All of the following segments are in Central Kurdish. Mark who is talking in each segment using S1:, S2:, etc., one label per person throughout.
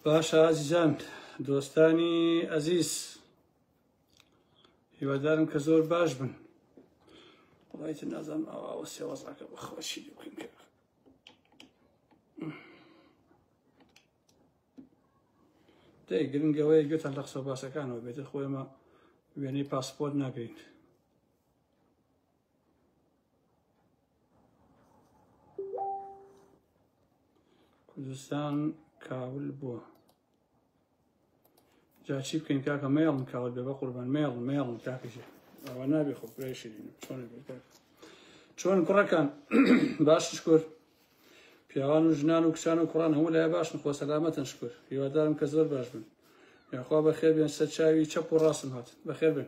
S1: باشە ئازیزان دۆستانی ئەزیز هیوادارم کە زۆر باش بن وڵایت نازان ئاواوە سێوەزاکە بەخۆشی بکەین کە دەی گرنگەوەی گوێتان لە قسە باسەکانەوە بێتە خۆێمە وێنەی پاسپۆرت ناگەیت کوردستان کاول بووە جا چی بکەین کاکە مێڵم کاول بێ بە قوربان مێڵ مێڵم کاکەژێ ئەوە نابێ خۆ پرێشرین چۆن چۆن کوڕەکان باش شکر پیاوان و ژنان و کچان و کوڕان هەموو لای باشن خۆ سەلامەتن شکر هیوادارم کە زۆر باش بن یاخوا بەخێر بێن سەر چاوی چەپ و ڕاستم هات بەخێر بن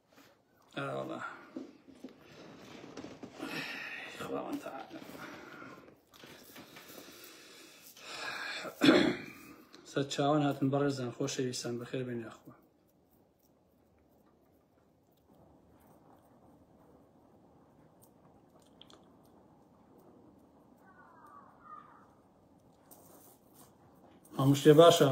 S1: ئاوەڵا خواوەن تەعالا سەر چاوان هاتن بەڕێزان خۆشەویستان بەخێر بێن یاخوا هەموو شتێ باشە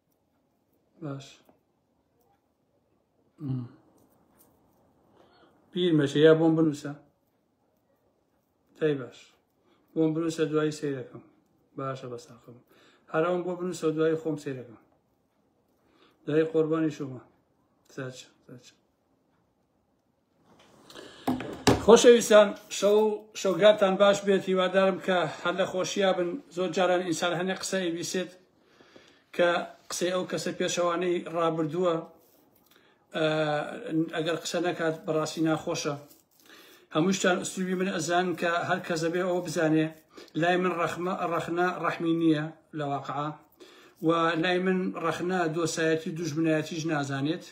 S1: باش پیر مەچە یا بۆم بنووسە دای باش بۆم بنووسە دوایی سیرەکەم باشە بەساقم هەرم بۆ بنووسە دوای خۆم سیرەکەم دوای قۆربانی شومە ساچ ساچ خۆشەویستان شەو شەوگاتان باش بێت هیوادارم کە هەر لە خۆشییا بن زۆر جاران ئینسان هەنێ قسە ئەیبیسێت کە قسەی ئەو کەسە پێشەوانەی ڕابردووە ئەگەر قسە نەکات بەڕاستی ناخۆشە هەمووشتان ئوسلوبی من ئەزان کە هەر کەس دەبێ ئەو بزانێ لای من ڕەخمە ڕەخنە ڕەحمی نییە لە واقع و لای من ڕەخنە دۆسایەتی دوژمنایەتیش نازانێت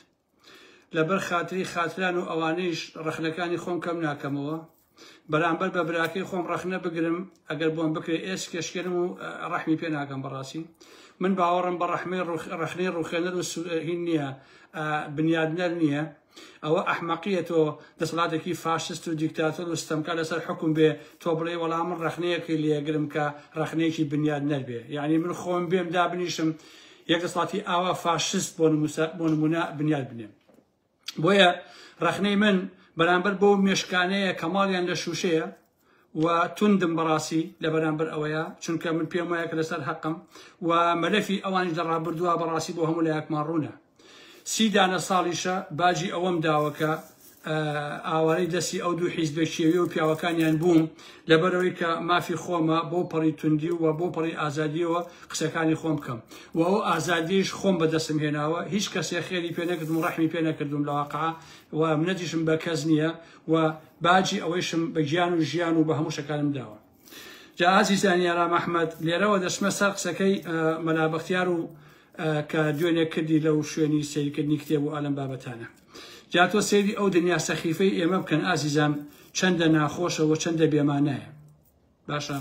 S1: لەبەر خاتری خاتران و ئەوانەیش ڕەخنەکانی خۆم کەم ناکەمەوە بەرامبەر بە براکەی خۆم ڕەخنە بگرم ئەگەر بۆم بکرێت ئێس کێشکێنم و ڕەحمی پێ ناکەم بەڕاستی من باوەڕم بە ڕەحمەی ڕەخنەی ڕوخێنەر و سوهین نییە بنیادنەر نییە ئەوە ئەحمەقیە تۆ دەسەڵاتێکی فاشست و دیکتاتۆر و ستەمکە لەسەر حکوم بێ تۆ بڵێ وەڵام من ڕەخنەیەکی لێگرم کە ڕەخنەیەکی بنیاد نەربێ یعنی من خۆم بێم دابنیشم یەک دەسڵاتی ئاوا فاشست بۆ بۆ نمونە بنیاد بنێن بۆیە ڕەخنەی من بەرامبەر بۆ مێشکانەیە کە ماڵیان لە شووشەیە و توندم بەڕاستی لە بەرامبەر ئەوەیە چونکە من پێم وایە کە لەسەر حەقم و مەلەفی ئەوانش لە ڕابردووە بەڕاستی بۆ هەموو لایەکمان ڕوونە سی دانە ساڵیشە باجی ئەوەم داوەکە ئاوارەی دەستی ئەو دوو حیزبە کێوی و پیاوەکانیان بووم لەبەرەوەی کە مافی خۆمە بۆ پەڕی توندی و بۆ پەڕی ئازادیەوە قسەکانی خۆم بکەم و ئەو ئازادیش خۆم بەدەستم هێناوە هیچ کەسێ خێری پێ نەکردم و ڕەحمی پێ نەکردم لە واقع و منەتیشم بە کەس نییە و باجی ئەوەیشم بە گیان و ژیان و بە هەموو شەکانم داوە جا ئازیزانی یارام ئەحمەد لێرەوە دەشمە سەر قسەکەی مەلا بەختیار و کە دوێنێ کردی لەو شوێنی سیرکردنی کتێب و ئالم بابەتانە جا تۆ سەیری ئەو دنیا سەخیفەی ئێمە بکەن ئازیزان چەندە ناخۆشە و چەندە بێمانایە باشە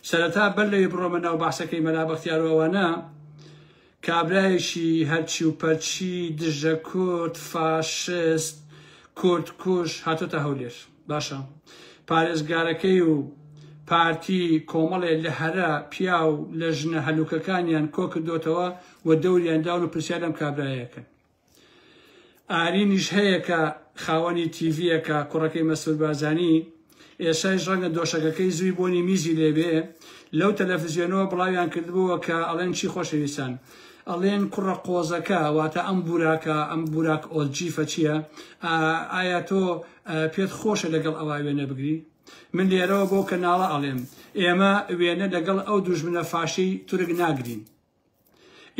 S1: سەرەتا بەر لەوی بڕۆمە ناو باسەکەی مەلا بەختیارەوەوانە کابرایەکی هەرچی و پەرچی دژە کورد فاشست کورد کوژ هاتۆتە هەولێر باشە پارێزگارەکەی و پارتی کۆمەڵێ لە هەرە پیاو لە ژنە هەلوکەکانیان کۆکردۆتەوە و دەوریان داون و پرسیار لەم کابرایەکەن. ئارینیش هەیە کە خاوەنی تیڤیەکە کوڕەکەی مەسرور بارزانی ئێسایش ڕەنگە دۆشەکەکەی زووی بۆنی میزی لێبێ لەو تەلەفزیۆنەوە بڵاویان کردبووە کە ئەڵێن چی خۆشەویستان ئەڵێن کوڕە قۆزەکە واتە ئەم بوراکە ئەم بوراک ئۆلجیفە چییە ئایا تۆ پێت خۆشە لەگەڵ ئەوە وێنە بگری من لێرەوە بۆ کەناڵە ئەڵێم ئێمە وێنە لەگەڵ ئەو دوژمنە فاشەی تورک ناگرین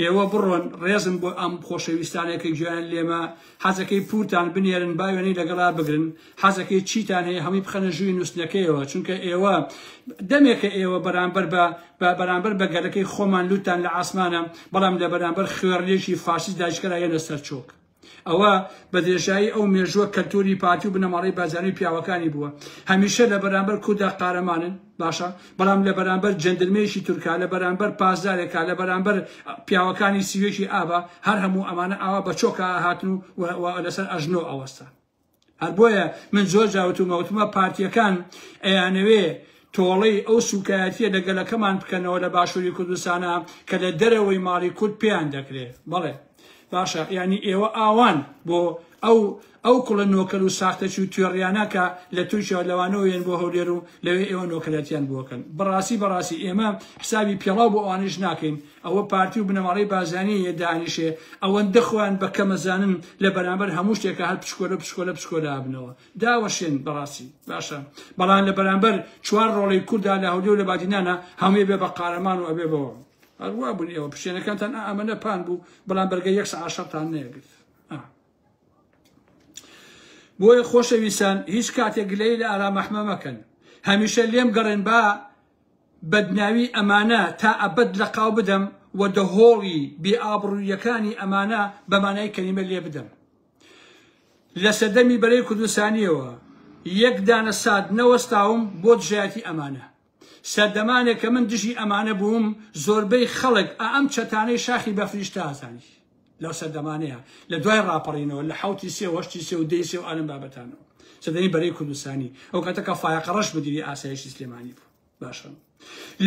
S1: ئێوە بڕۆن ڕێزم بۆ ئەم خۆشەویستانێک کە گوێیان لێمە حەزەکەی پورتان بنێرن با وێنەی لەگەڵا بگرن حەزەکەی چیتان هەیە هەمووی بخەنە ژووی نووسنەکەیەوە چونکە ئێوە دەمێکە ئێوە بەرامبەر بە بە بەرامبەر بە گەلەکەی خۆمان لوتان لە ئاسمانە بەڵام لە بەرامبەر خوێڕلێکی فاشیست داجکەرایەنە سەرچۆک ئەوە بە درێژایی ئەو مێژووە کەلتوری پارتی و بنەماڵەی بارزانی و پیاوەکانی بووە هەمیشە لە بەرامبەر کوردا قارەمانن باشە بەڵام لە بەرامبەر جەندرمەیەکی تورکا لە بەرامبەر پاسدارێکا لە بەرامبەر پیاوەکانی سیوێکی ئابا هەر هەموو ئەمانە ئاوا بە چۆکە هاتن و لەسەر ئەژنۆ ئەوەستان هەر بۆیە من زۆر جا وتومە، وتمە پارتییەکان ئەیانەوێ تۆڵەی ئەو سووکایەتییە لە گەلەکەمان بکەنەوە لە باشووری کوردستانا کە لە دەرەوەی ماڵی کورد پێیان دەکرێ. بەڵێ باشە یانی ئێوە ئاوان بۆ ئەو ئەو کوڵە نۆکەر و ساختەچی و توێڕیانە کە لە تورکیا و لەوانەوە یەن بۆ هەولێر و لەوێ ئێوە نۆکەرەتیان بۆکەن. بەڕاستی بەڕاستی ئێمە حسابی پێڵاو بۆ ئەوانیش ناکەین. ئەوە پارتی و بنەماڵەی بازانی یە دانیشێ ئەوەندە خۆیان بە کەمە زانن لە بەرامبەر هەموو شتێکا هەر پشکۆلە پشکۆلە پشکۆلە ئەبنەوە داوەشێن بەڕاستی باشە بەڵام لە بەرامبەر چوار ڕۆڵەی کوردا لە هەولێر و لە بادینانە هەمووی بێ بە قارەمان و ئەبێ بەوە هەروا بوون ئێوە پشتێنەکانتان ئا ئەمەە پان بوو بەڵام بەرگە یەک سەعات شەڕتان نەیەگرت بۆیە خۆشەویستان هیچ کاتێک گلەی لە ئارام ئەحمە مەکەن هەمیشە لێم گەڕێن با بەدناوی ئەمانە تا ئەبەد لەقاو بدەم و دەهۆڵی بێ ئابڕووییەکانی ئەمانە بە مانای کەلیمە لێ بدەم. لە سەردەمی بەرەی کوردستانییەوە یەک دانە سات نەوەستاوم بۆ دژایەتی ئەمانە. سەردەمانێک کە من دژی ئەمانە بووم، زۆربەی خەڵک ئا ئەم چەتانەی شاخی بەفریش تازانی. لەو سەردەمانەیە لە دوای ڕاپەڕینەوە لە حوتی سێ وەشتی سێ و دەی سێ و ئالم بابەتانەوە سەدەی بەرەی کوردستانی ئەو کاتە کە فایقەڕەش مدیری ئاسایشی سلێمانی بوو باشە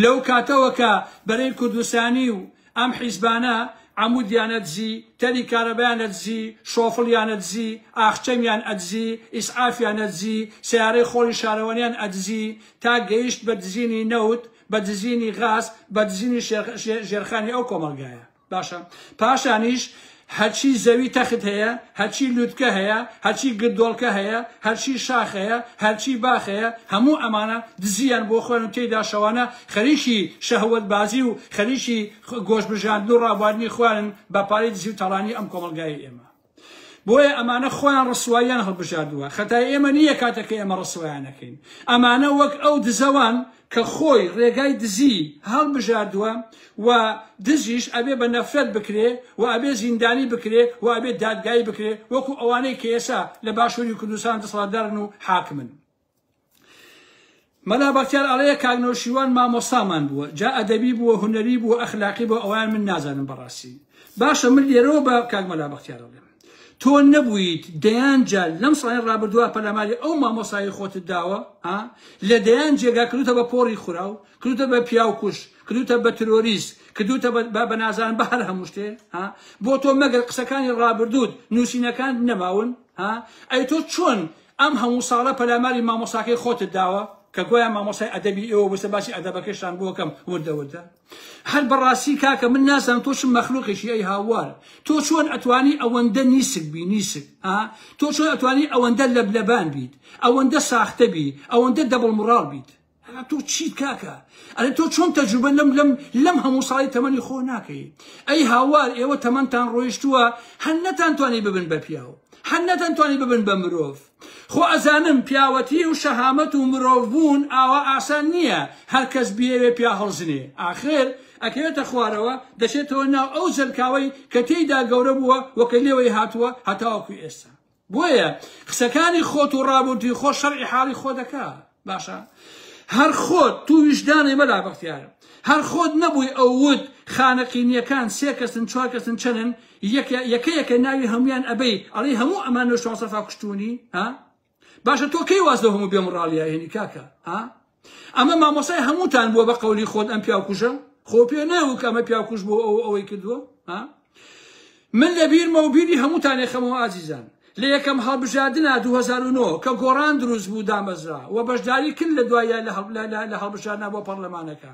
S1: لەو کاتەوە کە بەرەی کوردستانی و ئەم حیزبانە عمودیانە دزی تەری کارەبیانە دزی شۆفڵیانە دزی ئاخچەمیان ئەدزی ئیسعافیانە دزی سیارەی خۆڵی شارەوانیان ئەدزی تا گەیشت بە دزینی نەوت بە دزینی غاز بە دزینی ژێرخانی ئەو کۆمەڵگایە باشە پاشانیش هەرچی زەوی تەخت هەیە هەرچی لوتکە هەیە هەرچی گردۆڵکە هەیە هەرچی شاخ هەیە هەرچی باخ هەیە هەموو ئەمانە دزیان بۆ خۆیان و تێیدا شەوانە خەریکی شەهوت بازی و خەریکی گۆش بژاندن و ڕابواردنی خۆیانن بە پارەی دزی و تاڵانی ئەم کۆمەڵگای ئێمە بۆیە ئەمانە خۆیان ڕسواییان هەڵبژاردووە خەتای ئێمە نییە کاتەکە ئێمە ڕسوایانەکەین ئەمانە وەک ئەو دزەوان کە خۆی ڕێگای دزی هەڵبژاردووە و دزیش ئەبێ بە نەفرەت بکرێ و ئەبێ زیندانی بکرێ و ئەبێ دادگایی بکرێ وەکو ئەوانەی کە ئێسا لە باشووری کوردستان دەسەڵاتدارن و حاکمن مەلا بەختیار ئەڵێ کاک نەوشیروان مامۆستامان بووە جا ئەدەبی بووە هونەری بووە ئەخلاقی بۆ ئەوان من نازانم بەڕاستی باشە من لێرەوە بە کاک مەلا بەختیار ئەڵێم تۆ نەبوویت دەیان جار لەم ساڵی ڕابردووە پەلاماری ئەو مامۆسایی خۆتت داوە لە دەیان جێگا کردوتە بە پۆڕی خوراو کردوتە بە پیاوکوش کردوتە بە ترۆریست کردوتە بە نازان بە هەر هەموو شتێ بۆ تۆ مەگەر قسەکانی ڕابردووت نووسینەکان نەماون ئەی تۆ چۆن ئەم هەموو ساڵە پەلاماری مامۆستاکەی خۆتت داوە کە گوایە مامۆستای ئەدەبی ئێوە بووسە باسی ئەدەبەکەشتان بۆ کەم وردە وردە هەر بەڕاستی کاکە من نازانم تۆ چ مەخلوقێکی ئەی هاوار تۆ چۆن ئەتوانی ئەوەندە نیسک بی نیسک ها تۆ چۆن ئەتوانی ئەوەندە لەبلەبان بیت ئەوەندە ساختە بی ئەوەندە دەبڵ مڕاڵ بیت ئەرا تۆ چیت کاکە ئەرێ تۆ چۆن تەجروبە لەم لەم لەم هەموو ساڵی تەمەنی خۆ ناکەی ئەی هاوار ئێوە تەمەنتان ڕۆیشتووە هەر نەتانتوانی ببن بە پیاو هەر نەتانتوانی ببن بە مرۆڤ خۆ ئەزانم پیاوەتی و شەهامەت و مرۆڤ بوون ئاوا ئاسان نییە هەر کەس بیەوێ پیا هەڵزنێ ئاخر ئەکەوێتە خوارەوە دەچێتەوە ناو ئەو زەلکاوەی کە تێیدا گەورە بووە وەکە لێوەی هاتووە هەتاوەکو ئێستا بۆیە قسەکانی خۆت و ڕابوردوی خۆ شەرعی حاڵی خۆ دەکا باشە هەر خۆت تو ویژدانێ مەلا بەختیار هەر خۆت نەبووی ئەو وت خانەقینیەکان سێ کەسن چوار کەسن چەنن یەکە یەکە ناوی هەمویان ئەبەی ئەڵی هەموو ئەمان نوێ شواسەفا کوشتونی ها باشە تۆ کەی واز لە هەموو بێمڕاڵیایێنی کاکە ها ئەمە مامۆسای هەمووتان بووە بە قەولی خۆت ئەم پیاوکوژە خۆ پێ نەوک ئەمە پیاکوش بۆ ئەو ئەوەی کردووە ها من لە بیرمە و بیری هەمووتانێ خەمەوە ئازیزان لە یەکەم هەڵبژاردنا 2009 کە گۆڕان دروست بوو دامەزرا و بەشداری کرد لە دوایە لە هەڵبژاردنا بۆ پەرلەمانەکە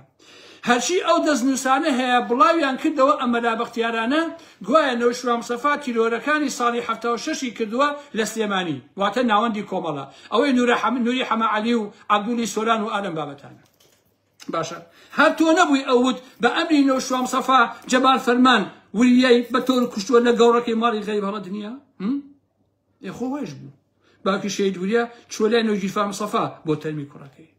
S1: هەرچی ئەو دەستنووسانە هەیە بڵاویان کردەوە ئەمەلا بەختیارانە گوایە نەوشیروان مستەفا تیرۆرەکانی ساڵی حەفتا و شەش ی کردووە لە سلێمانی واتە ناوەندی کۆمەڵە ئەوەی نوری حەمە عەلی و عەبدولی سۆران و ئالەم بابەتانە باشە هەر تۆ نەبووی ئەوت بە ئەمری نەوشیروان مستەفا جەمال فەرمان وریای بە تۆر کوشتووە لە گەوڕەکەی ماڵی غەریب هەڵە دنیا ئێ خۆ هۆیش بوو باوکی شەید وریا چوە لای نۆگیرفا مسەفا بۆ تەرمی کوڕەکەی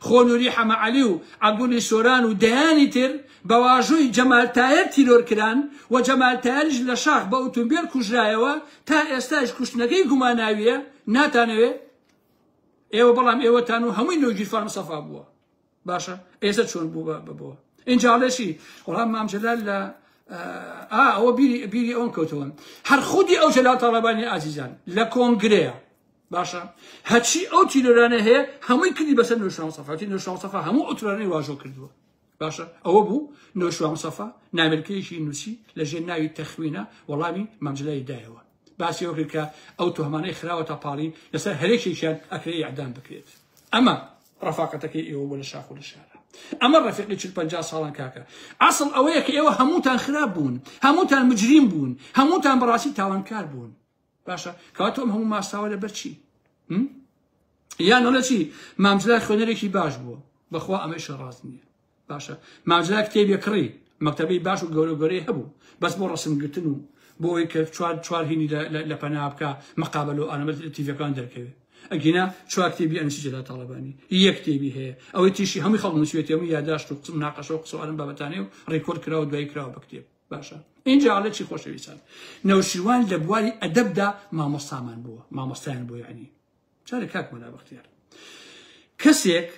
S1: خۆ نوری حەمە عەلی و عەبدولی سۆران و دەیانی تر بە واژۆی جەمال تایەر تیرۆر کران و جەمال تایەریش لە شاخ بە ئوتومبێل کوژرایەوە تا ئێستاش کوشتنەکەی گوماناویە ناتانەوێ ئێوە بەڵام ئێوەتان و هەمووی نۆگیرفا مسەفا بووە باشە ئێستا چۆن بوو بە بۆ اینجا لەشی وەڵام مام جەلال لە ئەوە بیری بیری ئەوم کەوتەوە هەر خودی ئەو جەلال تاڵەبانی ئازیزان لە کۆنگرەیە باشە هەچی ئەو تیرۆرانە هەیە هەمووی کردی بەسەر نوشان سەفاتی نوشان سەفا هەموو ئۆترانی واژۆ کردووە باشە ئەوە بوو نوشان سەفا نامرکەیەکی نووسی لە ژێر ناوی تەخوینە وەڵامی مامجلای دایەوە باسی ئەو کرد کە ئەو تۆمانەی خراوە تا پاڵی لەسەر هەرێکێکیان ئەکرێ یعدام بکرێت ئەمە ڕەفاقەتەکەی ئێوە بۆ لە شاخۆ لە شارە ئەمە ڕفیقی چل پنجا ساڵان کاکە ئاسڵ ئەوەیە کە ئێوە هەمووتان خراپ بوون هەمووتان مجریم بوون هەمووتان بەڕاستی تاوانکار بوون باشە کاتۆم هەموو ماساوە لە بەرچی یان ئەڵە چی مامجلای خوێنەرێکی باش بووە بەخوا ئەمەیشە ڕاست نییە باشە ماجرا کتێبی کڕی مەکتەبی باش و گەورە گەورەی هەبوو بەس بۆ ڕسمگرتن و بۆ ئەوی کە چوار چوار هینی لە پەنا بکە مەقابل و ئەنەمە تیڤەکان دەرکەوێت ئەگینا چوار کتێبی ئەنسی جەلا تاڵەبانی یەک کتێبی هەیە ئەوەی تیشی هەمووی خەڵک نووسێتی هەموو یاداشت و قسم ناقەشە و قسە ئەم بابەتانەیە و ڕیکۆرد کراوە دوای کراوە بە کتێب باشە اینجا ئەڵێ چی خۆشەویستان نەوشیروان لە بواری ئەدەبدا مامۆستامان بووە مامۆستایان بۆ یعنی چارە کاک مەلا بەختیار کەسێک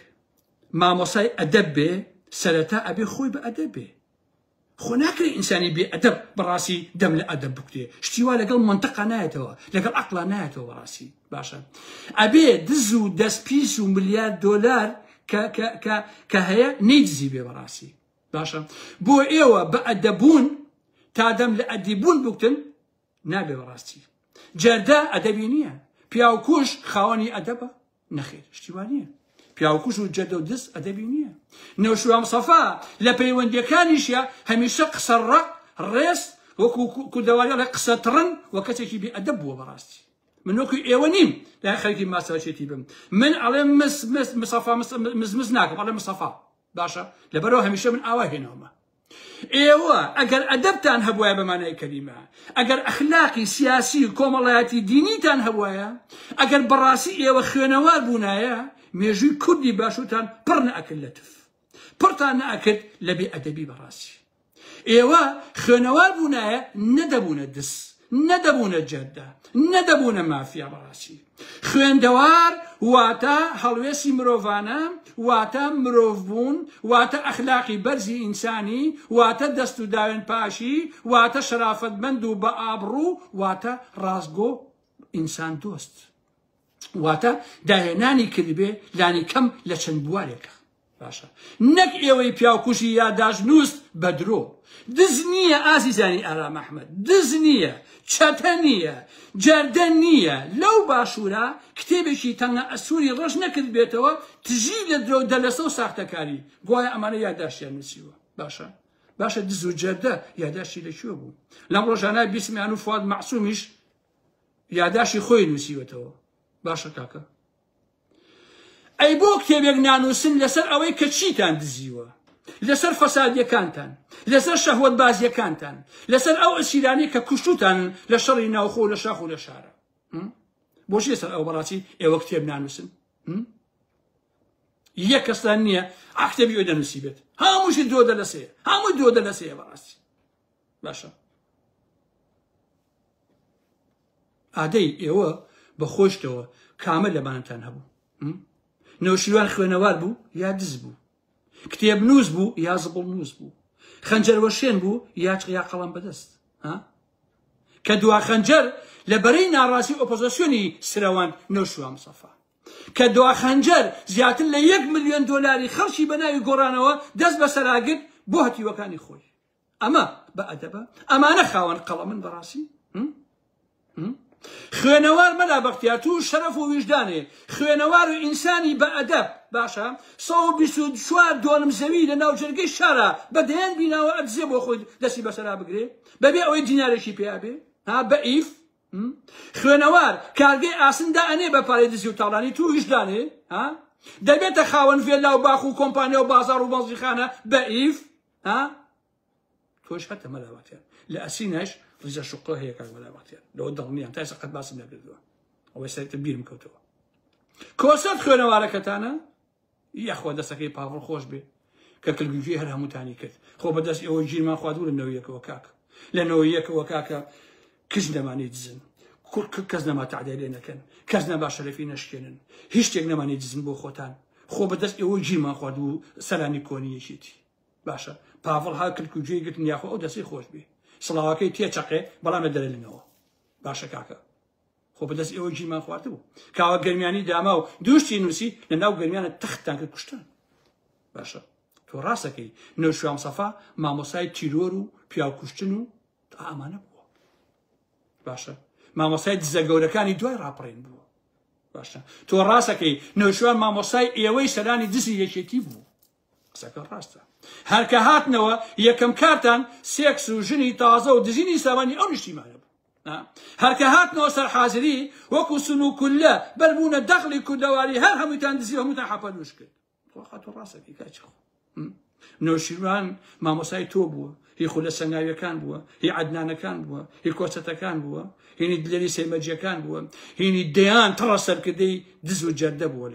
S1: مامۆستای ئەدەب بێ سەرەتا ئەبێ خۆی بە ئەدەب بێ خۆ ناکرێ ئینسانی بێ ئەدەب بەڕاستی دەم لە ئەدەب بکرێ شتی وا لەگەڵ منتەقا نایەتەوە لەگەڵ عقلا نایەتەوە بەڕاستی باشە ئەبێ دز و دەست پیس و ملیار دۆلار کە هەیە نەیدزی بێ بەڕاستی باشە بۆ ئێوە بە ئەدەبوون تا دەم لە ئەدیبوون بکتن نابێ بەڕاستی جەردە ئەدەبی نییە پیاوکوش خاوەنی ئەدەبە نەخێر شتیوا نییە پیاوکوش و جەردە و دز ئەدەبی نییە نەوشوام سەفا لە پەیوەندەکانیشە هەمیشە قسە ڕە ڕێز وەکو کوردەواری ڵێ قسە تڕن و کەسێکی بێ ئەدەب بووە بەڕاستی من وەکو ئێوە نیم لا خەرکی ماساچێتی بم من ئەڵێ مس مس مسەفا مزمز ناکەم ئەڵێ مسەفا باشە لەبەرەوە هەمیشە من ئاوا هێنەوەمە ئێوە ئەگەر ئەدەبتان هەبوایە بە مانای کەلیمە، ئەگەر ئەخلاقی سیاسی و کۆمەڵایەتی دینیتان هەبوایە، ئەگەر بەڕاستی ئێوە خوێنەوار بوونایە، مێژووی کوردی باشوورتان پڕ نەئەکرد لە تف. پڕتان نەئەکرد لە بێ ئەدەبی بەڕاستی. ئێوە خوێنەوار بوونایە نەدەبوونە دز، نەدەبوونە جەردە، نەدەبوونە مافیا بەڕاستی. خوێندەوار واتە هەڵوێستی مرۆڤانە، واتە مرۆڤ بوون، واتە ئەخلاقی بەرزی ئینسانی، واتە دەست و داوێن پاشی، واتە شەرافەتمەند و بە ئابڕوو، واتە ڕاستگۆ و ئینسان دۆست. واتە داهێنانی کردبێ لانی کەم لە چەند بوارێکا. باشە نەک ئێوەی پیاوکوژی یاداشت نووست بە درۆ دز نییە ئازیزانی ئارام ئەحمەد دز نییە چەتە نییە جەردە نییە لەو باشوورە کتێبێکی تەنگە ئەسووری ڕەش نەکرد بێتەوە تژی لە درۆ دەلەسە و ساختەکاری گوایە ئەمانە یاداشتیان نووسیوە باشە باشە دز و جەردە یاداشتی لەکوێ بوو لەم ڕۆژانە بیسمیان و فواد مەعسومیش یاداشی خۆی نووسیوەتەوە باشە کاکە ئەی بۆ کتێبێک نانووسن لەسەر ئەوەی کە چیتان دزیوە لەسەر فەسادیەکانتان لەسەر شەهوت بازیەکانتان لەسەر ئەو ئەسیرانی کە کوشتوتان لە شەڕی ناوخۆ لە شاخ و لە شارە بۆچی لەسەر ئەو بەڕاستی ئێوە کتێب نانووسن یە کەستان نییە ئاکتێبی ئەوی دەنووسی بێت هەمووشی دۆ دەلەسێ هەموو دۆ دەلەسێ بەڕاستی باشە ئادەی ئێوە بە خۆشتەوە کامە لەبانتان هەبوو نەوشیروان خوێنەوار بوو یا دز بوو کتێب نووس بوو یا زبڵ نووس بوو خەنجەر وەشێن بوو یا چقیا قەڵم بەدەست ها کە دوا خەنجەر لە بەرەی ناڕاستی ئۆپۆزیسیۆنی سرەوان نەوشوان مسەفا کە دوا خەنجەر زیاتر لە یەک ملیۆن دۆلاری خەڵکی بە ناوی گۆڕانەوە دەست بەسەراگرت بۆ هەتیوەکانی خۆی ئەمە بە ئەدەبە ئەمانە خاوەن قەڵەمن بەڕاستی خوێنەوار مەلا بەختیا تو شەرەف و ویژدانێ خوێنەوار و ئینسانی بە ئەدەب باشە 124 دۆنم زەوی لە ناو جەرگەی شارە بە دەیان بیناوە ئەدزێ بۆ خۆی دەستی بەسەرا بگرێ بەبێ ئەوەی دینارێکی پێیابێ ها بە ئیف خوێنەوار کارگەی ئاسندا ئەنێ بە پارەی دزی و تاڵانی تو ویژدانێ ها دەبێتە خاوەن ڤێلا و باخ و کۆمپانیا و بازار و بەڵزیخانە بە ئیف ئا تۆش هەتە مەلاواتیان لە ئەسینەش ڕیزە شوقڕە هەیە کاک مەلاواتیان لەوە دڵنیان تاسە قەت باسم نەکردووە ئەوەی سەرتە بیرم کەوتەوە کۆسەت خوێنەوارەکەتانە یاخوا دەستەکەی پاڕ خۆش بێ کە کلگوێ هەر هەمووتانی کرد خۆ بەدەست ئەوە ژیرمان خوادورە نەوەیەکەوە کاک لە نەوەیەکەوە کاکە کچ نەمانی دزن کوڕ کە کەس نەما تەعدای لێ نەکەن کەس نەما شەرەفی نەشکێنن هیچ شتێک نەمانی دزن بۆ خۆتان خۆ بەدەست ئێوە گیرمان خوارد و سەرانی کۆنی یەکێتی باشە پاڤڵ ها کلک و گوێی گرتن یاخۆ ئەو دەستی خۆش بێ سڵاوەکەی تێچەقێ بەڵام لە دەرلنەوە باشە کاکە خۆ بەدەست ئێوە گیرمان خواردبوو کاوە گەرمیانی داما و دوشتی نووسی لە ناو گەرمیانە تەختان کرد کوشتان باشە تۆ ڕاستەکەی نەوشام سەفا مامۆسای تیرۆر و پیاوکوشتن و ئامانە بووە باشە مامۆسای دزە گەورەکانی دوای ڕاپڕین بووە باشە تۆ ڕاستەکەی نەوشوان مامۆسای ئێوەی سەرانی دزی یەکێتی بوو قسەکە ڕاستە هەرکە هاتنەوە یەکەم کارتان سێکس و ژنی تازە و دزینی سامانی ئەو نیشتیمانە بوو هەرکە هاتنەوە سەر حازری وەکو سن و کولە بەربوونە دەخلی کوردەواری هەر هەمووتان دزی هەمووتان حەپەنوش کرد بەخوا خاتو ڕاست ئەکەی کاچی خۆ نەوشیروان مامۆسای تۆ بووە هی خولە سەنگاویەکان بووە هی عدنانەکان بووە هی کۆچەتەکان بووە هینی دلێری سەیمەجیەکان بووە هینی دەیان تەڕە سەرکردەی دز و جەردە بووە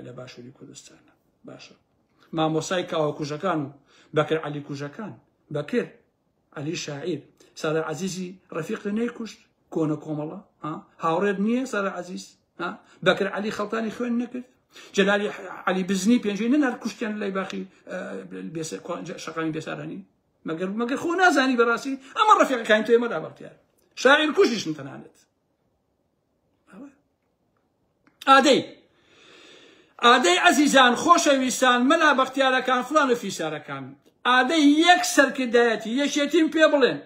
S1: لە باشووری کوردستان باشە مامۆسای کاوە کوژەکان و بەکر علی کوژەکان بەکر عەلی شاعیر سادە عەزیزی ڕەفیقتە نەیکوشت کۆنە کۆمەڵە هاوڕێت نییە سادە عەزیز بەکر علی خەڵتانی خوێن نەکرد جلالی علی بزنی پێنجی نەنار کوشتیان لای باخی شەقامی بێسارانی مەگەر مەگەر خۆ نازانی بەڕاستی ئەمە ڕەفیقەکانی تۆێمە لابڕتیار شاعیر کوشیشن تەنانێت ئادەی ئادەی عەزیزان خۆشەویستان مەلا بەختیارەکان فلان و فیسارەکان ئادەی یەک سەرکردایەتی یەکێتیم پێ بڵێن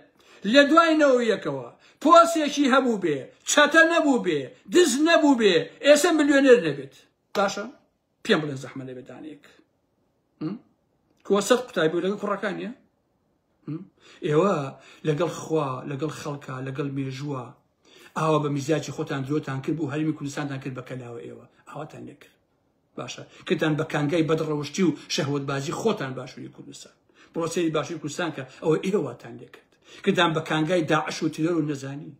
S1: لە دوای نەوەیەکەوە پۆسێکی هەبوو بێ چەتە نەبوو بێ دز نەبوو بێ ئێسە ملیۆنێر نەبێت باشە پێم بڵێ زەحمە لەبێ دانەیەک کۆسەر قوتای بوو لەگە کوڕەکانە ئێوە لەگەڵ خوا لەگەڵ خەڵکە لەگەڵ مێژووە ئاوا بە میزاجی خۆتان درۆتان کرد بوو هەرمی کوردستانتان کرد بە کەلاوە ئێوە ئاواتان لێکرد باشە کردان بە کانگای بەدڕەوشتی و شەهوت بازی خۆتان باشووری کوردستان بڕۆسەری باشووری کوردستان کە ئەوە ئێوەتان لێکرد کردان بە کانگای داعش و تیرۆر و نەزانی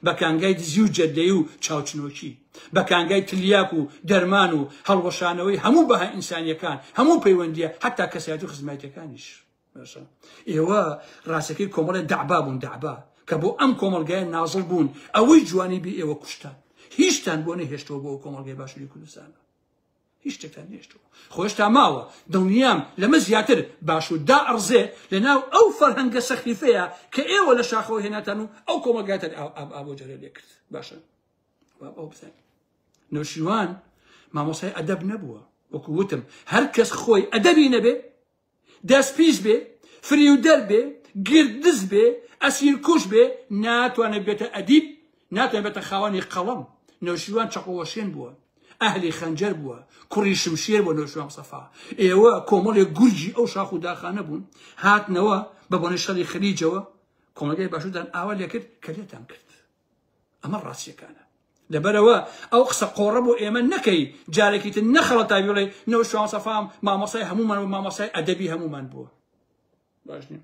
S1: بە کانگای دزی و جەدەی و چاوچنۆکی بە کانگای تلیاک و دەرمان و هەڵوەشانەوەی هەموو بەها ئینسانیەکان هەموو پەیوەندیە حتا کەسایەت و خزمایتەکانیش ئێوە ڕاستەکەی کۆمەڵە دەعبا بوون دەعبا کە بۆ ئەم کۆمەلگای نازڵ بوون ئەوەی جوانی بێ ئێوە کوشتان هیچتان بۆ نەهێشتەوە بۆ کۆمەلگای باشووری کوردستانە هیچ شتێکتان نێشتووە خۆ هێشتا ماوە دڵنیام لەمە زیاتر باش و دا ئەڕزێ لەناو ئەو فەرهەنگە سەخیفەیە کە ئێوە لە شاخەوە هێناتان و ئەو کۆمەلگاتەر ئابۆ جەرە لێ کرد باشە ئەو بزانین نوشیوان مامۆسای ئەدەب نەبووە وەکو وتم هەر کەس خۆی ئەدەبی نەبێ دەست پیس بێ فریودەر بێ گردز بێ ئەسیر کوش بێ ناتوانێت بێتە ئەدیب ناتوانێت بێتە خاوەنی قەڵەم نەوشیروان چەقۆوەشێن بووە ئەهلی خەنجەر بووە کوڕی شمشێر بۆ نەوشیروان سەفا ئێوە کۆمەڵێک گورجی ئەو شاخ و داخانە بوون هاتنەوە بە بۆنە شەڕی خلیجەوە کۆمەلگای باشودان ئاوا لێکرد کە لێتان کرد ئەمە ڕاستیەکانە. لەبەرەوە ئەو قسە قۆڕە بۆ ئێمە نەکەی جارێکی تر نەخەڵەتای بڵێ نەوشوان سەفام مامۆسای هەمومان و مامۆسای ئەدەبی هەمومان بووە باش نیە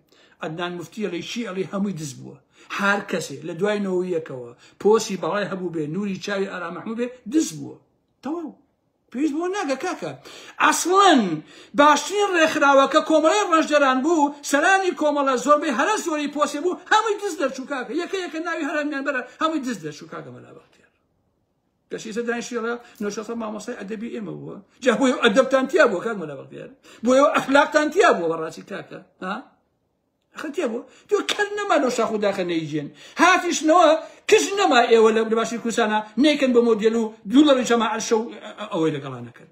S1: عدنان مفتی ئەڵی چی ئەڵی هەمووی دز بووە هەر کەسێ لە دوای نەوەیەکەوە پۆسی بەڵای هەبوو بێ نوری چاوی ئارا مەحموو بێ دز بووە تەواو پێویست بەوە ناکە کاکە ئەسڵەن باشترین ڕێکخراوە کە کۆمەڵەی ڕەنجدەران بوو سەرانی کۆمەڵە زۆربەی هەرە زۆری پۆسێ بوو هەمووی دز دەرچوو کاکە یەکە یەکە ناوی هەرمیان بەرە هەمووی دز دەرچوو کاکە مەلا بەختیار کەشی سە دانیشیڕە نۆشەسە مامۆسای ئەدەبی ئێمە بووە جا بۆی ئەدەبتان تیا بووە کاک مەلا بەختیار بۆیەوە ئەخلاقتان تیا بووە بەڕاستی کاکە ها خەتیە بۆ تۆ کەر نەما لەو شاخ و داخە نەیجێن هاتیشنەوە کەس نەما ئێوە لە باشی کوردستانە نەیکەن بە مۆدیل و دوو لەڕی جەما عەرشە و ئەوەی لەگەڵانەکەن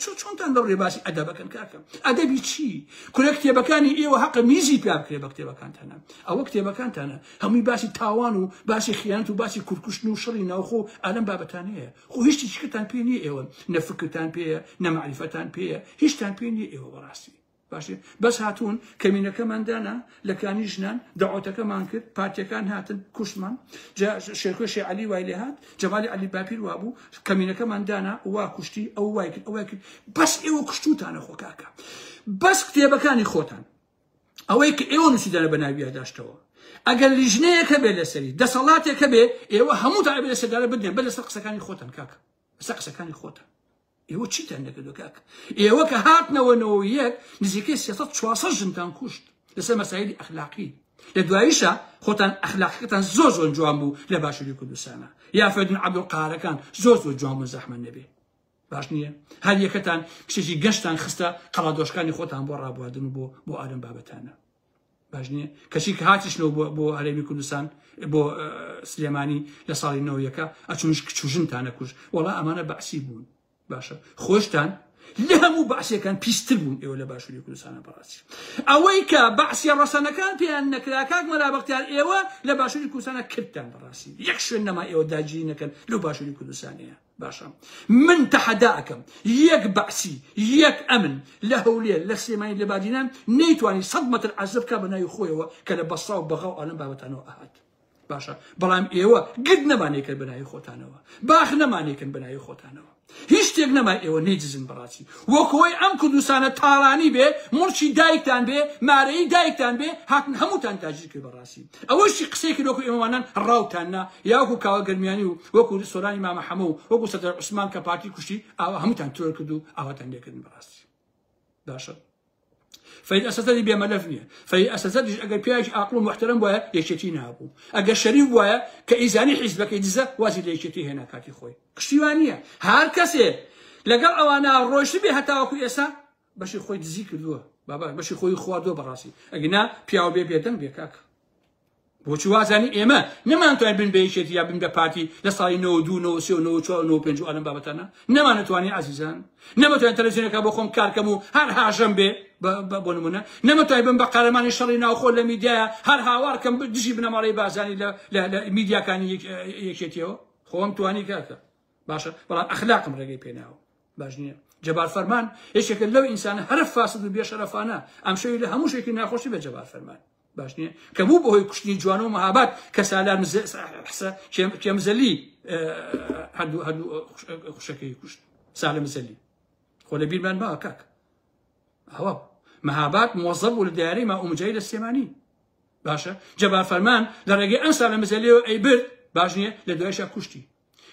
S1: چۆنتان لە ڕێباسی ئەدەبەکەن کاکەم ئەدەبی چی کورە کتێبەکانی ئێوە حەقە میزی پیا بکرێ بە کتێبەکانتانە ئەوە کتێبەکانتانە هەمووی باسی تاوان و باسی خیانەت و باسی کورکوشتن و شەڕی ناوخۆ ئەلم بابەتانەیە خۆ هیچی چکتان پێ نیە ئێوە نەفکتان پێەیە نەمەعریفەتان پێەیە هیچتان پێ نیە ئێوە بەڕاستی باشێ بەس هاتوون کەمینەکەمان دانا لە کانی ژنان داواتەکەمان کرد پارتەکان هاتن کوشمان شێکۆشی علی وای لێ هاات جەمالی علی باپیر وابوو کەمینەکەمان دانا وا کوشتی ئەو وای کرد ئەوە کرد بەس ئێوە کوشتوتانە خۆکاکە بەس کتێبەکانی خۆتان ئەوەی کە ئێوە نووسیدانە بە ناویە داشتەوە ئەگەر لیژنەیەکە بێ لەسەری دەسەڵاتێکە بێ ئێوە هەموو تا لەسەدارە بدێن بە لەسەر قسەکانی خۆتان کاکە لەسەر قسەکانی خۆتان ئێوە چیتان نەکردو کاک ئێوە کە هاتنەوە نەوە یەک نزیکەی سێ سەد چوار سەد ژنتان کوشت لەسەر مەسایلی ئەخلاقی لە دواییشە خۆتان ئەخلاقەکەتان زۆر زۆر جوان بوو لە باشووری کوردستانە یافەدن عەبدولقارەکان زۆر زۆر جوان بوون زەحمەت نەبێ باش نییە هەر یەکەتان کچێکی گەشتان خستە قەڵادۆشکانی خۆتان بۆ ڕابواردن و بۆ بۆ ئارم بابەتانە باش نییە کەچی کە هاتیشنەوە بۆ هەرێمی کوردستان بۆ سلێمانی لە ساڵی نەوەیەکە ئەچونش کچژنتانە کوش وەڵا ئەمانە بەعسی بوون باشە خۆشتان لە هەموو بەعسیەکان پیستر بوون ئێوە لە باشووری کوردستانە بەڕاستی ئەوەی کە بەعسیە ڕەسەنەکان پێیان نەکرا کاک مەرابختیار ئێوە لە باشووری کوردستانە کردتان بەڕاستی یەک شوێن نەما ئێوە داگیری نەکەن لەو باشووری کوردستانەیە باشە من تەحەدا ئەکەم یەک بەعسی یەک ئەمن لە هەولێر لە سلێمانی لە بادینان نەیتوانی سەد مەتر عەرزە بکا بە ناوی خۆیەوە کە لە بەسڕا و بەغا و ئەلەم بابەتانەوە ئەهات باشە بەڵام ئێوە گرد نەمانێکن بە ناوی خۆتانەوە باخ نەمانێکن بە ناوی خۆتانەوە هیچ شتێک نەما ئێوە نەیدزن بەڕاستی وەکەوەی ئەم کوردستانە تاڵانی بێ مڵکی دایکتان بێ مارەی دایکتان بێ هاتن هەمووتان تاجیر کرد بەڕاستی ئەوەشی قسەی کرد وەکو ئێوەوانان ڕاوتان نا یا وەکو کاوە گەرمیانی و وەکو سۆرانی مامە حەمە و وەکو سەدر عوسمان کە پارتی کوشتی ئاوا هەمووتان ترۆر کرد و ئاواتان لێکردن بەڕاستی باشە فەید ئەسەسەدی بێمەلەف نییە فەید ئەسەسەدیش ئەگەر پیاوێکی ئاقڵ و محترم وایە یەکێتی نابوو ئەگەر شەریف وایە کە ئیزانی حیزبەکەی دزە وازی لە یەکێتی هێنا کاتی خۆی پشتیوان نییە هەر کەسێ لەگەڵ ئەوانە ڕۆیشت بێ هەتاوەکو ئێسا بەشی خۆی دزی کردووە بابا بەشی خۆی خواردووە بەڕاستی ئەگنا پیاو بێ بێدەنگ بێ کاک بۆچی وازانی ئێمە نەمانتوانین بن بە یەکێتی یا بن بە پارتی لە ساڵی 92 ئەلم بابەتانە نەمانەتوانی عزیزان نەمەتوان تەلەزیۆنەکە بۆ خۆم کارکەم و هەر هاژەم بێ بۆ نمونە نەمەتوای بم بە قارەمانی شەڕی ناوخۆ لە میدیایە هەر هاوارکەم دژی بنەماڵی بازانی لە میدیاکانی یەکێتیەوە خۆم توانی کاکە باشە بەڵام ئەخلاقم ڕێگەی پێناوە باش نییە جەبار فەرمان یەکێکە لەو ئینسانە هەرە فاسد و بێشەرەفانە ئەم شەوی لە هەموو شێکی ناخۆشی بە جەبار فەرمان باش نییە کە بوو بەهۆی کوشتنی جوان و مەهابات کە سالار کێمزەلی هەردوو هەردوو خوشەکەی کوشت سالە مزەلی خۆ لە بیرمان باوە کاک ئەوە مەهابات مۆزە بوو لە دیارەی ما ئومجای لە سێمانی باشە جەبار فەرمان لە ڕێگەی ئەم سالە مزەلی و ئەی برد باش نییە لە دوایشە کوشتی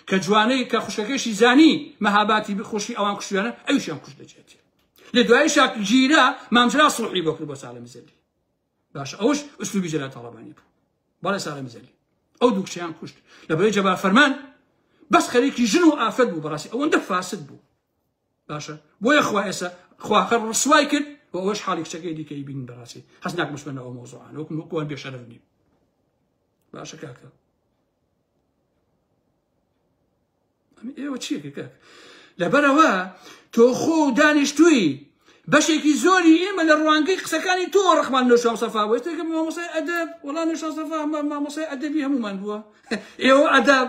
S1: کە جوانەی کە خوشەکەشی زانی مەهاباتی بخۆشی ئەوان کوشتیانە ئەوشیان کوشت دەچێتی لە دوای شاک گیرە مامجرا سڵحی بۆ کرد بۆ ساڵە مزەلی باش ئەوش ئوسلوبی جەلا تاڵەبانی بوو بەڵێ ساڵە مزەلی ئەو دووکچیان کوشت لە بەوەی جەبا فەرمان بەس خەریکی ژن و ئافرەت بوو بەڕاستی ئەوەندە فاسد بوو باشە بۆیە خوا ئێستا خواخە ڕسوای کرد و ئەوش حاڵی کچەکەی دیکەی بین بەڕاستی هەست ناک مسمەن ئەو مۆزوعان وەکم وەکوان بێشەرف نیم باشە کاکە ئێوە چیەکە کاکە لەبەرەوە تۆ خۆ دانیشتووی بەشێکی زۆری ئێمە لە ڕوانگەی قسەکانی تۆ ڕخمان نوشام سەفا وێستێکم مامۆسای ئەدەب وڵا نوشا سەفا مامۆسای ئەدەبی هەمومان بووە ئێوە ئەدەب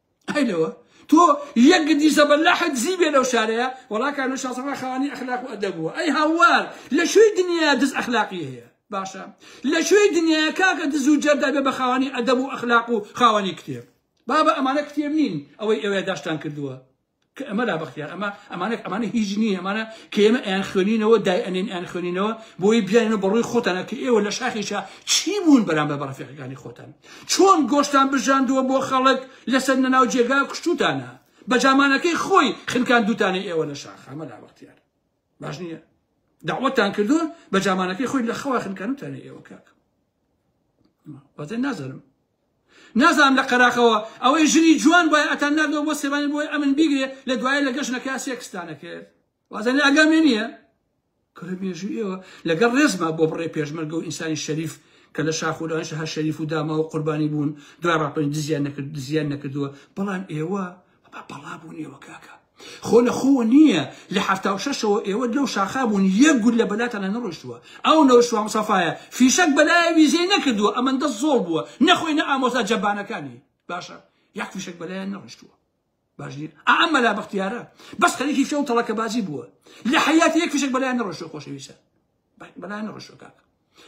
S1: ئەی لەوە تۆ یەک گدی زەبەلاحت زی بێ لەو شارەیە وەڵاکە لە شاسەڵا خاوانی ئەخلاق و ئەدەب بووە ئەی هاوار لە شوێی دنیا دز ئەخلاقی هەیە باشە لە شوێی دنیا کاکە دز و جەردا بێ بە خاوانی ئەدەب و ئەخلاق و خاوانی کتێب بابە ئەمانە کتێب نین ئەوەی ئەوێ داشتان کردووە کە ئەمە لا بەختیار ئەمە ئەمانە ئەمانە هیچ نییە ئەمانە کە ئێمە ئەیان خوێنینەوە دای ئەنێن ئەیان خوێنینەوە بۆی بیانە بە ڕووی خۆتانە کە ئێوە لە شاخیشا چی بوون بەرامبەر بە ڕفێقەکانی خۆتان چۆن گۆشتان بژاندووە بۆ خەڵک لەسەر نەناو جێگا کوشتوتانە بە جامانەکەی خۆی خنکان دوتانە ئێوە لە شاخ ئەمە لا بەختیار باش نییە داوەتان کردو بە جامانەکەی خۆی لە خەوا خنکانوتانە ئێوە کاک وازێ نازانم نازانم لە قەراقەوە ئەوەی ژنی جوان بۆە ئەتان نردەوە بۆ سێبانی بۆی ئەمن بیگرێ لە دوایە لە گەشتەکە سێکستانە کرد وازێن ئەگەمێ نییە کورە مێژوو ئێوە لەگەڵ ڕێزما بۆ بڕێ پێشمەرگە و ئینسانی شەریف کە لە شاخورانش هەر شەریف و داما و قوربانی بوون دوای ڕاپەنج دزیان نەکرد دزیان نەکردووە بەڵام ئێوە بە بەڵا بوونیەوە کاکە خۆ لە خۆوە نییە لە حفتا و شەشەوە ئێوە لەو شاخا بوون یەک گول لە بەلاتان لە نەڕۆشتووە ئەو نەوشوا مسافاە فیشەک بەلایە ویزەی نەکردووە ئەمەندە زۆڵ بووە نەخۆی نە ئامۆزا جەبانەکانی باشە یاک فیشەک بەلایە نەڕشتووە باش نیە ئەم مەلا بەختیارە بەس خەریکی فێ و تەڵەکەبازی بووە لە حیاتی یەک فیشەک بەلایە نەڕۆشتووە خۆشەویستە بەلای من ڕشوە کاکە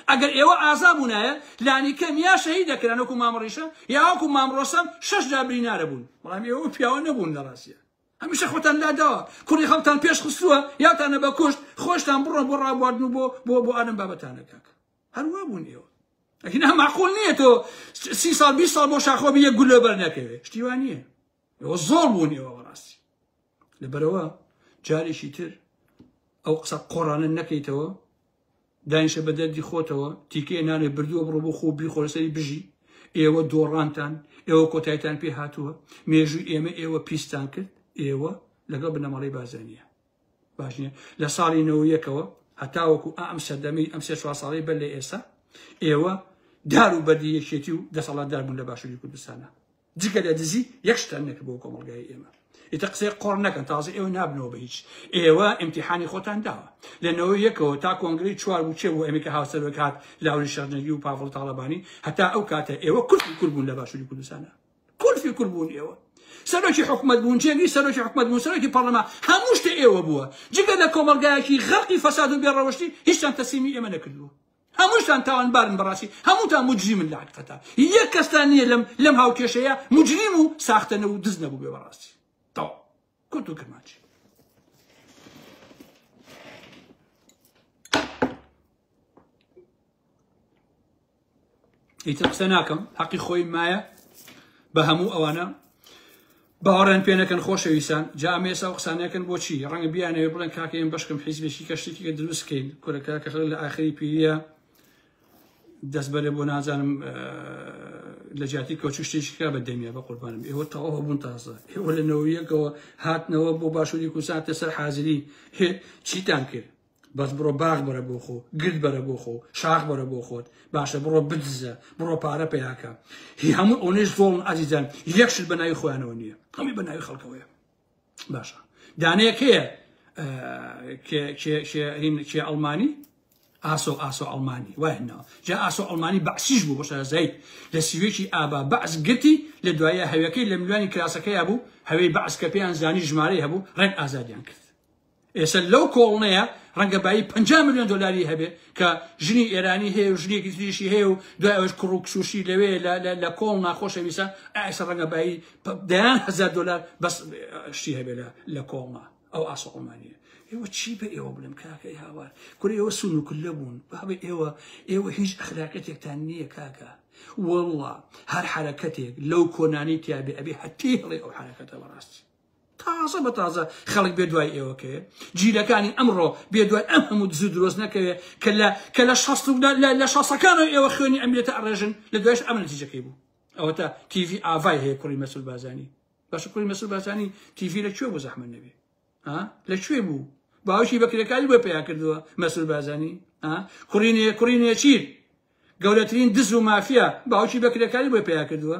S1: ئەگەر ئێوە ئازا بوونایە لانیکەم یا شەهید دەکران وەکو مامڕیشە یاوەکو مامڕۆسەم شش جا برینارە بوون بەڵام ئێوە پیاوە نەبوون لە ڕاستە هەمیشە خۆتان لاداوە کوڕی خەڵتان پێش خستووە یاتانە بە کوشت خۆشتان بڕۆن بۆ ڕابواردن و بۆ بۆ بۆ ئەم بابەتانە کاک هەروە بوون ئێوە ئەگینا معقول نییە تۆ سی سال بی سال بۆ شاخۆبی یە گولە بەر نەکەوێت شتیوان نییە ئێوە زۆر بوون ئێوە بەڕاستی لەبەرەوە جارێکی تر ئەو قسە قۆڕانە نەکەیتەوە داینشە بە دەردی خۆتەوە تیکێ نانێ بردووە بڕۆ بۆ خۆ بیخۆرسەری بژی ئێوە دۆڕانتان ئێوە کۆتایتان پێ هاتووە مێژوو ئێمە ئێوە پیستان کرد ئێوە لەگەڵ بنەماڵی بازانە باش نیە لە ساڵی نەوەیەکەوە هەتاوەکو ئەم سەردەمی ئەم سێ چوار ساڵی بەر لە ئێستا ئێوە دار و بەردی یەکێتی و دەسەڵاتدار بوون لە باشووری کوردستانە جگە لە دزی یەک شتان نەکرد بۆ کۆمەڵگای ئێمە ئیتە قسەی قۆڕ نەکەن تازە ئێوە نابنەوە بە هیچ ئێوە ئیمتیحانی خۆتان داوە لە نەوە یەکەوە تا کۆنگری چوار بچێ بۆ ئەمریکا هاوسەرۆک هات لاوری شەرنەگی و پاڤڵ تاڵەبانی هەتا ئەو کاتە ئێوە کورتی کورد بوون لە باشووری کوردستانە کورفی کورد بوون ئێوە سەرۆکی حکومت بوون جێگری سەرۆکی حکومت بوون سەرۆکی پەرلەمان هەموو شتە ئێوە بووە جگە لە کۆمەلگایەکی غەرقی فەساد و بێڕەوشتی هیچیان تەسلیمی ئێمە نەکردووە هەمووشتان تاوانبارن بەڕاستی هەمووتان موجریمن لە حەقیقەتا یەک کەستان نییە لەم لەم هاوکێشەیە مجریم و ساختەنە و دز نەبوو بێ بەڕاستی تەوا کورت و کرمانجی ئیتر قسە ناکەم حەقی خۆی مایە بە هەموو ئەوانە باوەڕێن پێ نەکەن خۆشەویستان جامێسا و قسانەکەن بۆچی ڕەنگە بیانەوێ بڵێن کاکەم بەشکم حیزبێکی کە شتێکی کە دروستکەین کورەکە کە خەڵک لە ئاخری پیریە دەست بەرێ بۆ نازانم لە جیاتی کۆچو شتێکیکە بە دەمیە بە قوربانم ئێوە تەواوە بوون تازە ئێوە لە نەوەیەکەوە هاتنەوە بۆ باشووری کوساتە سەر حازری چیتان کرد بەس بڕۆ باخ بەرە بۆ خۆ گرد بەرە بۆ خۆ شاخ بەرە بۆ خۆت باشە بڕۆ بدزە بڕۆ پارە پیاکە هی هەموو ئەونێش زۆڵن ئازیزان یەکشت بە ناوی خۆیانەوە نییە هەمی بە ناوی خەڵکەوەیە باشە دانەیەکەیە کێ ئەڵمانی ئاسۆ ئاسۆ ئەڵمانی وایهنەوە جا ئاسۆ ئەڵمانی بەعسیش بوو بۆ شارەزایی لە سیوێکی ئابا بەعس گرتی لە دوایە هەوەکەی لە ملوانی کراسەکەی بوو هەوەی بەعس کە پێیان زانی ژمارەی هەبوو ڕێک ئازادیان کرد ئێستا لەو کۆڵنەیە ڕەنگە بایی پەنجا ملیۆن دۆلاری هەبێ کە ژنی ئێرانی هەیە و ژنێکی تریشی هەیە و دوای ئەوەش کوڕ و کچوشی لەوێ لە- لە- لە کۆڵ ناخۆشەویستە ئێستا ڕەنگە بایی پ- دەیان هەزار دۆلار بەس اه، شتی هەبێ لە- لە کۆڵنە ئەو ئاسۆ عومانیە ئێوە چی بە ئێوە بڵێم کاکەی هاوار کورە ئێوە سون و کلە بوون بابە ئێوە ئێوە هیچ ئەخلاقەتێکتان نییە کاکە واللە هەر حەرەکەتێک لەو کۆنانەی تیابێ ئەبێ هەتیهڵێ ئەو حەرەکەتە بەڕاستی تازە بە تازە خەڵک بێ دوای ئێوە کەێ جیلەکانی ئەمڕۆ بێ دوای ئەم هەموو دزو درۆست نەکەوێ کە لە کە لە شەست لە شەسەکانەوە ئێوە خوێنی ئەمرێتە ئەڕێژن لە دوایش ئەم نتیجەکەی بوو ئەوە تا تیV ئاڤای هەیە کوڕی مەسول بازانی باشە کوڕی مەسول بازانی تیV لە کوێ بۆ زەحمە نەبێ لە کوێ بوو باوکی بەکرێکاری بۆ پیا کردووە مەسول بازانی کوڕینێ کوڕینێ چیر گەورەترین دز و مافیا باوکی بەکرێکاری بۆ پیا کردووە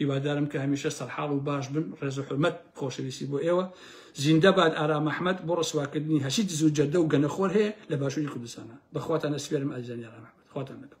S1: هیوادارم کە هەمیشە سەرحاڵ و باش بن ڕێز و حورمەت خۆشەویستی بۆ ئێوە زیندە باد ئارام ئەحمەد بۆ ڕسواکردنی هەرچی دز و جەردە و گەنەخۆر هەیە لە باشووری کوردستانە بەخواتان ئەسپێرم ئازیزانی ئارام ئەحمەد خواتان لەگەڵ